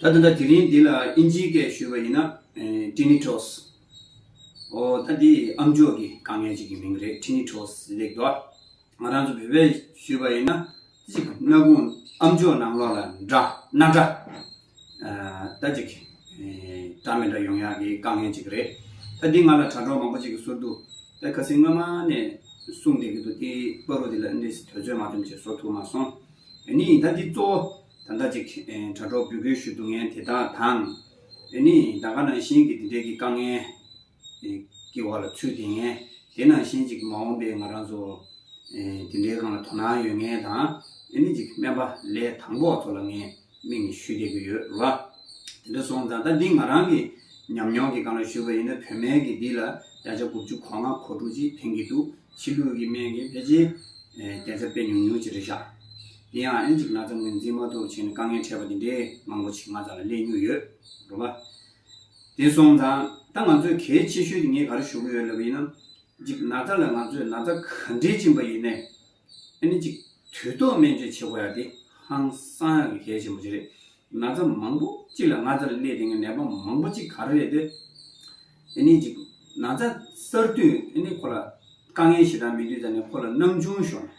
ད་དེ་འདྲ་དེ་རིང་འདི་ལ་ཨིན་ཇིའི་སྐད་ཞུས་པ་ཡིན་ན། Tinnitus། ཨོ། ད་འདི་ཨམ་ཅོག་གི་དཀའ་ངལ་ཅིག་གི་མིང་རེད Tinnitus ལེགས་འདུག་ཨ། ང་རང་ཚོ་བོད་པས་ཞུས་པ་ཡིན་ན། ཅིག་སྣ་ཁུང་ཨམ་ཅོག་ནང་ལོགས་ལ་འདྲ་སྣ་འདྲ། ད་ཅིག་འདྲ་མི་འདྲ་ཡོང་ཡག་གི་དཀའ་ངལ་ཅིག་རེད། ད་འདི་ང་ལ་དྲ་གྲོགས་མང་པོ་ཅིག་གི་ཟུར་དུ། ད་ག་སེ་སྔོན་མ་ནས་གསུངས་བསྡད་ཀྱི་འདུག་དེ་པ་རུ་འདི་ལ་ཨིན་ལིས་དོལ་ཚོད་མ་ཐོན་བྱས་བཟོ་ཐུབ་མ་སོང། ཨེ་ནི་ད་འདི་གཙོ་བོ། ད་ལྟ་ཅིག་དྲ་གྲོགས་འབོད་སྐུལ་ཞུ་འདུག་ངས་དེ་དག་དང། འོན་ནི་ད་ག་ནང་བཞིན་གྱི་འདི་འདྲའི་གི་དཀའ་ངལ་གི་བར་ལ་ཚུད་དེ་ངས་དེ་ནང་བཞིན་ཅིག་མ་འོངས་པའི་ང་རང་ཚོ་དེ་འདྲའི་གང་ལ་དོ་སྣང་ཡོད་ངེས་དང། འོན་ནི་ཅིག་སྨན་པ་ལས་དང་པོ་བ་ཚོ་ལ་ངས་མིག་ནས་ཞུས་བསྡད་གི་ཡོད་ར། དེ་འདྲ་སོང་ད་ལྟ་འདི་ང་རང་གི་ཉམས་མྱོང་གི་གང་ལ་ཞུས་པ་ཡིན་ན་བོད་སྨན་གི་འདི་ལ་བརྒྱ་ཆ་དགུ་བཅུ་གོ་ལྔ་གོ་དྲུག་ཅིག་ཕན་གི་འདུག་ཕྱི་ལུགས་གི་སྨན་གི་ཕལ་ཆེར་བརྒྱ་ཆ་དཔེ་ཉུང་ཉུང་ཅིག་རེད་ཤག། དེ་ཡང་ཨེན་ཅིབ་ན་ཙམ་ངོས་འཛིན་མ་ཐུབ་ཕྱིན་དཀའ་ངལ་འཕྲད་པ་འདི་འདྲས་མང་པོ་ཕྱི་མ་ཙམ་ལ་སླེབས་མྱོང་ཡོད་རུང་བ། དེ་སོང་ཙང་ད་ང་ཚོས་གལ་ཆེ་ཤོས་ཀྱི་ངས་ག་རེ་ཞུ་གི་ཡོད་ལབ་པ་ཡིན་ན། གཅིག་ན་ཙ་ལ་ང་ཚོས་ན་ཙ་ག་འདྲས་བཅིངས་པ་ཡིན་ནས་ཨེ་ནི་གཅིག་དུས་ཐོག་སྨན་བཅོས་བྱེད་དགོས་ཡ་དེ་ཧང་སང་ཡག་གི་གལ་ཆེན་པོ་ཅིག་རེད། ན་ཙ་མང་པོ་གཅིག་ལ་ང་ཙ་ལ་སླེབས་དེ་ངས་ནད་པ་མང་པོ་གཅིག་ག་རེ་རེད་དེ་ཨེ་ནི་གཅིག་ན་ཙ་གསར་དུས་ཨེ་ནི་ཁོ་ལ་དཀའ་ངལ་ཞེ་དྲག་མི་དུས་ད་ནས་ཁོ་ལ་སྣང་ཆུང་ཤོར་ནས་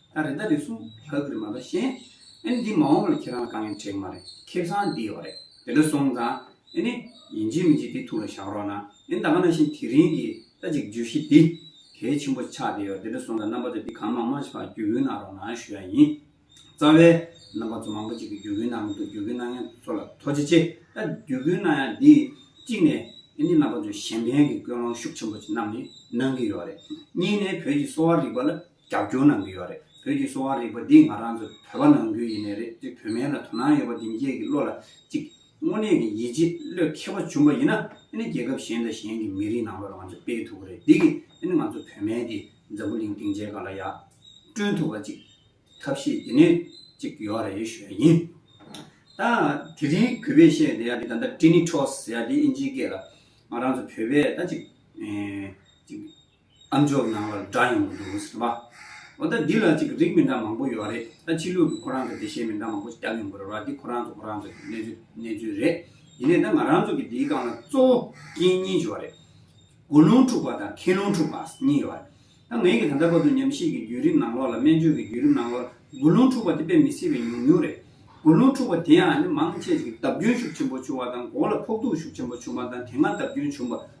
ད་རེ་ད་རེ་སུ་ག་གིར་མ་ག་ཤེས། ཨེ་འདི་མ་འོངས་པར་ཁྱེད་རང་ལ་དཀའ་ངལ་འཕྲད་ཀྱི་མ་རེད་ཁེབས་སང་འདི་ཡོད་རེད་དེ་འདྲ་སོང་ཙང་ཨེ་ནི། ཡིན་གྱི་མིན་གྱི་དེ་ཐུགས་ལ་བཞག་རོགས་གནང་ཨེ་ད་ག་ན་བཞིན་དེ་རིང་གི་ད་ཅིག་བརྗོད་གཞི་འདི་གལ་ཆེན་པོ་ཆགས་བསྡད་ཡོད་དེ་འདྲ་སོང་ཙང་རྣམ་པ་ཚོས་འདི་གང་མང་མང་ཞིག་ལ་བརྒྱུད་སྐུལ་གནང་རོགས་གནང་ཞུ་ཡ་ཡིན། རྩ་བའི། རྣམ་པ་ཚོ་མང་པོ་ཅིག་གིས་བརྒྱུད་སྐུལ་གནང་གི་འདུག་བརྒྱུད་སྐུལ་གནང་མཁན་ཚོ་ལ་ཐོ་ཇེ་ཆེ་ད་བརྒྱུད་སྐུལ་གནང་ཡ་འདི་གཅིག་ནས་ཨེ་ནི་རྣམ་པ་ཚོས་གཞན་ཕན་གྱི་ཀུན་སློང་ཤུགས་ཆེན་པོ་ཅིག་གནང་ནི་གནང་གི་ཡོད་རེད། གཉིས་ནས་བོད་ཀྱི་གསོ་བ་རིག་པ་ལ་རྒྱབ་སྐྱོར་གནང་གི་ཡོད་རེད་བོད་ཀྱི་གསོ་བ་རིག་པ་འདི་ང་རང་ཚོ་བོད་པ་ནང་ཁུལ་ཡིན་ནའི་རེད་དེ་བོད་སྨན་ལ་དོ་སྣང་ཡོད་པ་འདི་མཇེས་ཀྱི་བློ་ལ་གཅིག་དངོས་གནས་ཀྱི་ཡིད་ཆེས་བློས་མཁས་པ་བྱུང་པ་ཡིན་ན་དེ་ནི་རྒྱལ་ཁབ་གཞན་དང་གཞན་གྱི་མི་རིགས་ནང་ལོག་ལ་ང་ཚོ་སྤེལ་ཐུབ་རེད་འདི་གི་དེ་ནི་ང་ཚོ་བོད་སྨན་འདི་འཛམ་བུ་གླིང་སྟེང་མཇལ་ཁ་ལ་ཡང་བསྐྲུན་ཐུབ་པ་གཅིག་ཐབས་ཤེས་འདི་ནི་གཅིག་ཡོད་རེད་ཞོས་ཡིན་ད་དེ་རིང་གུས་པས་བཤད་བསྡད་ཡ་འདི་ད་ལྟ Trinitros ཡ་འདི་ཨིན་ཇིའི་སྐད་ལ་ང་རང་ཚོ་བོད་པས་ད་གཅིག་གཅིག་ཨ་མཆོག་ནང་ལ་འདྲ་ཡོང་གི་འདུག་སེམས་པ། འོ་ད་འདི་ལ་ཅིག་རིགས་མི་འདྲ་མང་པོ་ཡོད་རེད་ད་ཕྱི་ལུགས་ཀྱི་ཁོ་རང་ཚོ་བདེ་གཤེགས་མི་འདྲ་མང་པོ་བསྐྱར་ཡོང་གི་རེད་བ་འདི་ཁོ་རང་ཚོ་ཁོ་རང་ཚོ་གི་གནས་ཚུལ་གནས་ཚུལ་རེད་ཡིན་ནས་ད་ང་རང་ཚོ་གི་འདིའི་སྒང་ལ་གཙོ་བོ་རྐྱེན་གཉིས་བྱུང་བ་རེད། དགུ་རླུང་འཁྲུགས་པ་དང་ཁེ་རླུང་འཁྲུགས་པ་གཉིས་ཡོད་རེད། ད་ངེད་ཀྱི་ད་ལྟ་བར་དུ་ཉམས་ཞིབ་ཀྱི་བརྒྱུད་རིམ་ནང་ལོགས་ལ་སྨན་བཅོས་ཀྱི་བརྒྱུད་རིམ་ནང་ལོགས་ལ་དགུ་རླུང་འཁྲུགས་པ་དེ་དཔེ་མི་སྲིད་པའི་ཉུང་ཉུང་རེད། དགུ་རླུང་འཁྲུགས་པ་དེའང་ནི་མང་ཆེས་ཀྱི་བརྡབ་སྐྱོན་ཤུགས་ཆེན་པོ་བྱུང་བ་དང་མགོ་ལ་ཕོག་ཐུག་ཤུགས་ཆེན་པོ་བྱུང་བ་དང་དེ་སྔ་བརྡབ་སྐྱོན་བྱུང་བ་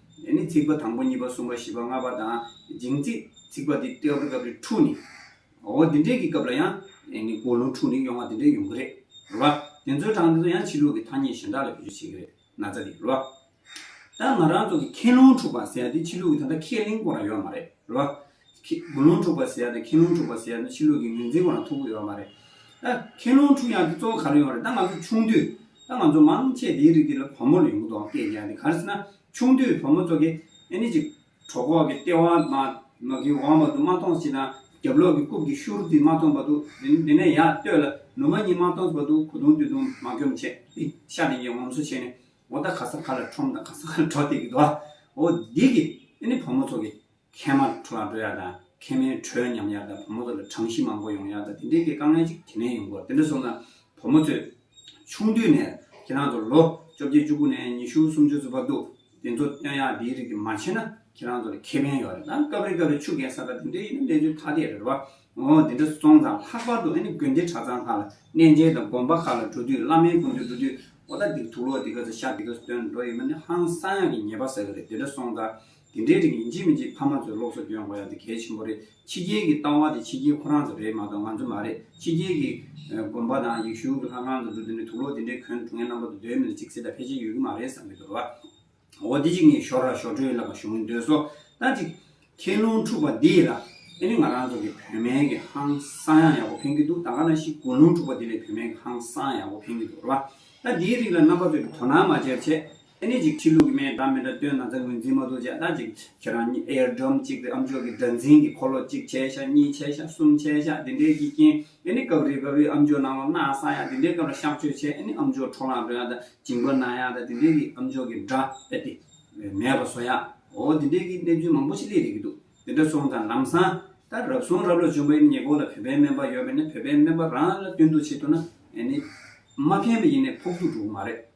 ཡང་ནི་ཚིག་པ་དང་པོ་གཉིས་པ་གསུམ་པ་བཞི་པ་ལྔ་པ་དང་འབྱིང་རྩིས་ཚིག་པ་འདི་ཏེའོ་པར་ཀ་པའི་ཕྲུག་ནི། འོ་འདི་འདྲའི་གི་སྐབས་ལ་ཡང། ཡང་ནི་ཀོ་ལུང་ཕྲུག་ནི་གཡོ་ང་འདི་འདྲའི་ཡོང་གི་རེད། རེད་བ། དེ་ཚོའི་གྲངས་འདི་ཚོ་ཡང་ཕྱི་ལུགས་ཀྱི་ཐ་སྙད་གཞན་དག་ལ་བེད་སྤྱོད་བྱེད་ཀྱི་རེད་ན་ཚ་འདི། རེད་བ། ད་ང་རང་ཚོ་གི་ཁེ་ལུང་ཕྲུག་པ་ཟེར་ཡ་འདི་ཕྱི་ལུགས་ཀྱི་ད་ལྟ་ཁས་ལེན་སྐོར་ལ་ཡོད་མ་རེད། རེད་བ། དགུན་ལུང་འཁྲུགས་པ་ཟེར་ཡ་དང་ཁེང་ལུང་འཁྲུགས་པ་ཟེར་ཡ་ནི་ཕྱི་ལུགས་ཀྱི་ངོས་འཛིན་གང་ལ་ཐུག་གི་ཡོད་མ་རེད། ཨ། ཁེང་ལུང་འཁྲུགས་ཡང་དེ་གཙོ་བོ་ག་རེ་ཡོང་རེད་ད་ང་ཚོ་ཆུང་དུས། ད་ང་ཚོ་མང་ཆེས་དེའི་རིགས་དེ་ལ་བུ་མོ་ལ་ཡོང་གི་འདུག་ཨང་སྐད་རྒྱག་འདི་ག་རེ་ཟེར་ན་ཆུང་དུས་བུ་མོ་ཚོ་གི་ཨེ་ནི་ཅིག། གྲོ་ཁོག་གི་ལྟེ་བ་མ། མ་གི་བང་བར་དུ་མ་ཐོངས་ཤིག་དང་རྒྱབ་ལོགས་ཀྱི་རྐུབ་ཀྱི་ཤུར་དེ་མ་ཐོངས་བར་དུ་དེ་དེ་ནས་ཡར་བསྟོད་ལ་ནུ་མ་གཉིས་མ་ཐོངས་བར་དུ་གོ་དུང་དུད་དུང་མ་སྐྱོམ་ཆེ་ཨི། ཤ་རེ་འགྱེལ་ངོམ་སོ་བྱས་ནས་འོ་ད་ག་ས་ག་ལ་ཁྲོམ་དང་ག་ས་ག་ལ་གྲོ་འཐེག་གི་འདུག་ཨ། འོ་འདི་གི་ཨེ་ནི་བུ་མོ་ཚོ་གི། མཁལ་མ་ལ་ཁྲོ་ལ་འགྲོ་ཡག་དང་མཁལ་མའི་དྲོད་ཉམས་ཡག་དང་བུ་མོ་ཚོ་ལ་གྲང་གཞི་མང་པོ་ཡོང་ཡག་དང་དེ་འདྲའི་དཀའ་ངལ་ཅིག་དེ་ནས་ཡོང་དགོས་དེ་འདྲ་སོང་ན་བུ་མོ་ཚོས་ཆུང་དུས་ནས་ཁྱེད་རང་ཚོར་ལོ་བཅོ་བརྒྱད་བཅུ་དགུ་ནས་ཉི་ཤུ་སུམ་ཅུ་ཚོ་བབ་འདུག་དེ་ཚོ་སྟོན་ཡག་དེའི་རིགས་དེ་མ་བྱས་ན་ཁྱེད་རང་ཚོ་ལ་ཁེ་ཕན་ཡོད་རེད་དང་སྐབས་རེ་སྐབས་རེ་ཆུ་རྒན་ས་དགའ་དེ་འདྲ་ཡིན་ན་གནས་ཚུལ་ཐ་དད་རེད་བ་འོང་དེ་འདྲ་སོང་ཙང་ལྷག་པར་དུ་ཨ་ནི་དགོན་སྡེ་གྲྭ་ཚང་ཁག་ལ་གནས་མཇལ་དང་དགོན་པ་ཁག་ལ་འགྲོ་དུས་བླ་མའི་དགོངས་ཚུལ་འགྲོ་དུས་འོ་ད་འདིར་ཐུགས་ལོ་འདི་ག་ཚོ་ཤ་འདི་ག་ཚོ་སྟོན་འགྲོ་ཡོད་མ་ནི་ཧང་སང་ཡག་གི་ཉེས་པ་ཟ་གི་རེད་དེ་འདྲ་སོང་ཙང་དེ་འདྲའི་རིགས་ཡིན་གཅིག་མིན་གཅིག་ཕ་མ་ཚོས་སློབ་གསོ་སྦྱོང་དགོས་ཡག་དེ་གལ་ཆེན་པོ་རེད་ཕྱི་རྒྱལ་གྱི་ལྟ་བ་དེ་ཕྱི་རྒྱལ་ཁོ་རང་ཚོ་རེད་མ་གཏོགས་ང་ཚོ་མ་རེད་ཕྱི་རྒྱལ་གྱི་དགོན་པ་དང་ཡིག་གཞུང་གི་ལྷ་ཁང་དུ་འགྲོ་དུས་ནས་དུག་ལོག་དེ་འདྲའི་གྱོན་གྲུ་ངའི་རྣམ་པ་དུ་སྡོད་མི་འདུག་ཅིག་སེ་ད་ཕལ་ཆེར་ཡོད་ཀྱི་མ་རེད་བསམ་གྱི་འདུག་རེད་བ། འོ་དེ་ཅིག་ངས་ཞོར་ལ་ཞོར་འཕྲོས་ལབ་པ་ཞུ་འདོད་སོ། ད་ཅིག་ཁྱེད་རླུང་འཁྲུག་པ་འདི་ལ་ཨེ་ནི་ང་རང་ཚོ་གི་བོད་སྨན་གྱི་ཧང་སང་ཡང་ཡག་པོ་ཕན་གྱི་འདུག་ད་ག་ན་ཤི་དགོན་རླུང་འཁྲུག་པ་འདི་ལས་བོད་སྨན་གྱི་ཧང་སང་ཡག་པོ་ཕན་གྱི་འདུག་རེད་བ། ད་འདིའི་རིགས་ལ་རྣམ་པ་ཚོས་ཀྱི་དོ་སྣང་མ་བྱས་པ་ཆད། ཨེ་ནི་ཅིག་ཁྲིད་ལུགས་ཀྱི་མའི་སྒྲ་མི་འདྲ་སྟོན་ན་ཚ་ངོས་འཛིན་མ་གཏོགས་བྱས་ལྟ་ཅིག་ཁྱེད་རང་གཉིས་ཨེར་སྒྲོམ་གཅིག་སྟེ་ཨམ་ཅོག་གི་སྒྲ་འཛིན་གྱི་འཁོར་ལོ་གཅིག་བྱས་ཤག་གཉིས་བྱས་ཤག་གསུམ་བྱས་ཤག་དེ་འདྲའི་གྱིས་རྐྱེན་ཨེ་ནི་སྐབས་རེ་སྐབས་རེ་ཨམ་ཅོག་ནང་ལོག་སྣ་ས་ཡག་དེ་འདྲའི་སྐབས་ལ་གཤག་བཅོས་བྱས་ཨེ་ནི་ཨམ་ཅོག་འཕྲོ་ལངས་འགྲོ་ཡག་དང་འགྱིང་བ་ན་ཡག་དང་དེ་འདྲའི་གྱིས་ཨམ་ཅོག་གི་སྒྲ་ཨེ་ཏེ་མེད་པ་བཟོ་ཡག་འོ་དེ་འདྲའི་གྱིས་གནས་ཚུལ་མང་པོ་ཞིག་སླེབས་ཡོད་ཀྱི་འདུག་དེ་འདྲ་སོང་ཙང་ལམ་སང་ད་རབ་སོང་རབ་ལ་བྱོན་པ་ཨེ་ནི་ཉེ་སྐོར་ལ་བོད་པའི་སྨན་པ་ཡོད་པ་ནི་བོད་པའི་སྨན་པ་རང་ལ་སྟོན་གཏུགས་བྱེད་ཐུབ་ན་ཨེ་ནི། མ་ཕན་པ་ཡིན་ནས་ཕོག་ཐུག་འགྲོ་གི་མ་རེད།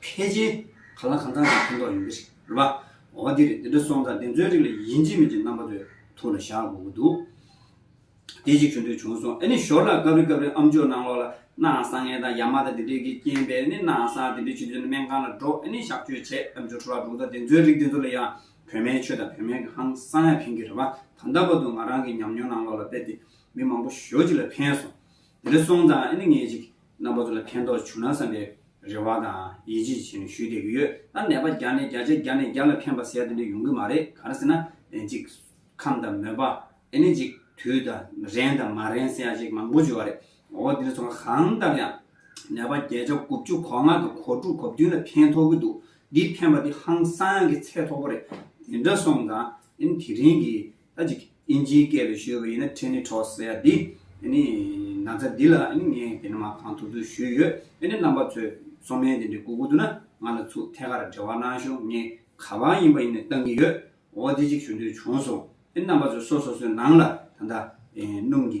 ཕལ་ཆེན་ག་ལ་གང་དག་ཅིག་ཕན་ཐོགས་ཡོང་གི་རེད་པ། འོ་འདིར་འདི་འདྲ་སོང་ཙང་འདི་ཚོའི་རིགས་ལ་ཡིན་གཅིག་མིན་གཅིག་རྣམ་པ་ཚོའི་ཐུགས་ལ་བཞག་དགོས་ཀྱི་འདུག། དེ་ཅིག་ཆུ་འདོད་བྱུང་སོང་ཨེ་ནི་ཞོར་ལ་སྐབས་རེ་སྐབས་རེ་ཨམ་ཅོག་ནང་ལོགས་ལ་སྣའང་སངས་ངེ་དང་ཡ་མ་དང་དེ་འདྲས་ཀྱིས་རྐྱེན་པས་ནི་སྣའང་སངས་དེ་འདྲས་བྱེད་དུས་ན་སྨན་ཁང་ལ་འགྲོ་ཨེ་ནི་གཤགས་བཅོས་བྱས་ཨམ་ཅོག་འཕྲོ་བརླག་འགྲོ་གི་འདུག་ད་དེ་ཚོའི་རིགས་དེ་ཚོ་ལ་ཡང་བོད་མའི་ཆོས་དང་བོད་མའི་གི་ཧང་སང་ཡང་ཕན་གྱི་རེད་པ་ད་ལྟ་བར་དུ་ང་རང་གི་ཉམས་མྱོང་ནང་ལོགས་ལ་དཔེ་དེ་མི་མང་པོ་ཞོ་གཅིག་ལ་ཕན་སོང་དེ་འདྲ་སོང་ཙང་ཨེ་ནི་ངས་ཅིག་རྣམ་པ་ཚོ་ལ་ཕན་ཐོགས་བྱུང་ན་བསམ་པའི་རེ་བ་དང་ཡིད་ཆེས་བྱས་ནས་ཞུས་བསྡད་ཀྱི་ཡོད། ད་ནད་པ་བརྒྱ་ནས་བརྒྱ་ཆ་བརྒྱ་ནས་བརྒྱ་ལ་ཕན་པ་ཟེར་དེ་འདྲ་ཡོང་གི་མ་རེད་ག་རེ་ཟེར་ན་ཨེ་ཅིག་ཁམས་དང་མོན་པ་ཨེ་ནས་ཅིག་དུས་དང་རན་དང་མ་རན་སེ་ཡ་ཅིག་མང་པོ་བྱོས་བ་རེད་འོ་འདི་འདྲ་ཚོ་གང་ལྟར་ཡང་ནད་པ་བརྒྱད་ཆ་དགུ་བཅུ་གོ་ལྔ་དང་གོ་དྲུག་གོ་བདུན་ལ་ཕན་ཐོགས་ཀྱི་འདུག་འདིས་ཕན་པ་འདི་ཧང་སང་གི་ཚད་མཐོ་པོ་རེད་དེ་འདྲ་སོང་ཙང་ཨེ་ན་དེ་རིང་གི་ཨ་ཅིག། ཨིན་ཇིའི་སྐད་དུ་ཞུས་པ་ཡིན་ན་ཁྲེ་ནི་ཁྲོ་སེ་ཡ་འདི། ཨ་ནི། ན་ཚ་འདི་ལ་ཨ་ནི་ངས་དེ་ནི་མ་གང་ཐུབ་ཐུབ་ཞུས་ཡོད། ཨ་ནི་རྣམ་པ་ཚོས་སོ་མའི་དེ་འདྲའི་སྐུ་སྒུག་འདུག་ན་ང་ལ་ཚུགས་ཐད་ཀར་འབྲེལ་བ་གནང་ཞོག་ངས་ག་པང་ཡིན་པ་ཡིན་ནས་བཏང་གི་ཡོད། འོ་དེ་ཅིག་ཞུ་འདོད་བྱུང་སོང། ཨ་ནི་རྣམ་པ་ཚོས་སོ་སོ་སོའི་ནང་ལ་ད། སྣུམ་གྱི།